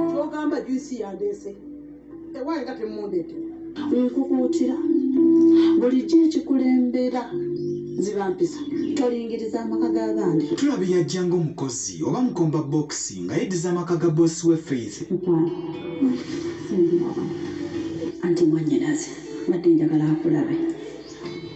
kyogamba juisi yandeese ewaye nga temundeete nkukuutira bulijjo ekikulembera zibampisa tolingiriza amaka g'abandi tulaba yajja ng'omukozi oba mukomba bokisi nga yeddiza amaka ga boosi we faith anti mwanyinaze badde njagala akulabe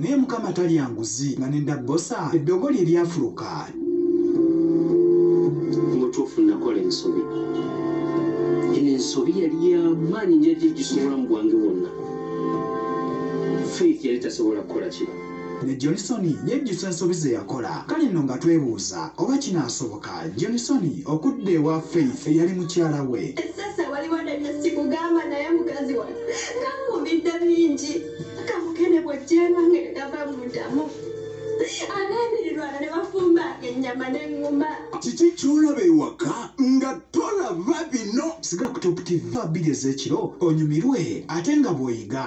naye mukama talya nguzi nga nenda bosa eddogo lye lyafuluka mutuufu nakola ensobi eno ensobi yali yamaanyi njaja egisobola mu bwange bwonna faith yali tasobola kukola kino ne johnson yejjusa ensobi ze yakola kale nno nga twebuuza oba kinaasoboka Ka Jonisoni okudda ewa Faith eyali mukyala we. Essese waliwo ne bye sikugamba naye mukazi wange kankuumidde bingi kamukene bw'ojjeema nga tegava mu ntamu abeemirirwano ne bafumbanga ennyama n'eŋŋuma. Kiki ky'olaba ewaka nga tolaba bino? Sigala ku Top TV bbiri ez'ekiro onyumirwe ate nga bw'oyiga.